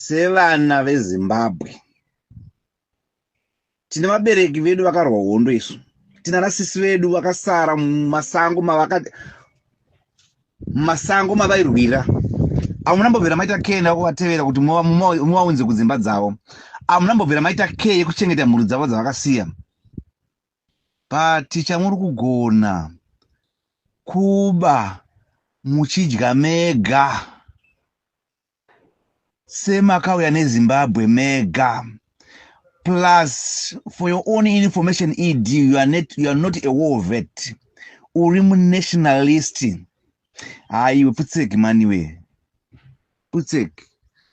Sevana veZimbabwe tine vabereki vedu vakarwa hondo isu tina nasisi vedu vakasara mumasango mavaka mumasango mavairwira amuna mbobvira maita kee ndakuvatevera kuti muvaunze kudzimba dzavo amuna mbobvira maita kee yekuchengeta mhuri dzavo dzavakasiya but chamuri kugona kuba muchidya mega Sir makauya neZimbabwe mega. Plus for your own information ED you are not, you are not a war vet. Uri munationalist. Haiwe putseki maniwe. Putseki.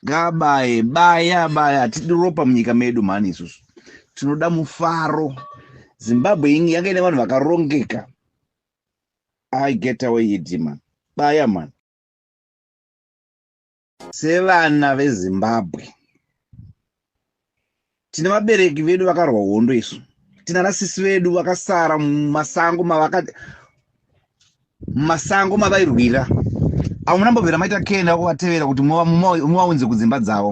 Ngabaye baya baya hatidi ropa munyika medu mhani isusu. Tinoda mufaro. Zimbabwe inge yanga ine vanhu vakarongeka. I get away ED man. Baya man. sevana vezimbabwe tine vabereki vedu vakarwa hondo isu tina nasisi vedu vakasara mumasango mavaka mumasango mavairwira avo munambobvira maita kenda kuvatevera kuti muvaunze kudzimba dzavo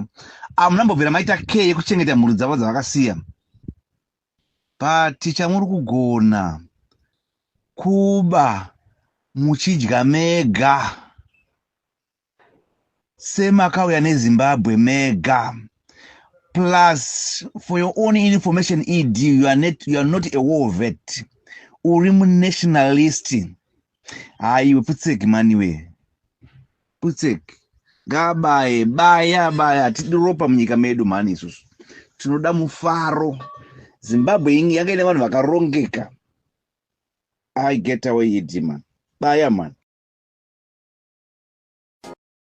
avo munambobvira maita keye kuchengeta mhuri dzavo dzavakasiya But chamurikugona kuba muchidya mega semakauya nezimbabwe mega plus for your own information ed you are, net, you are not a war vet uri munationalist hayi wepfutseki maniwee Putsek ngaabaye baya baya hatidi ropa munyika medu mhani isusu tinoda mufaro zimbabwe ingi yanga ine vanhu vakarongeka i get away hidima baya mhani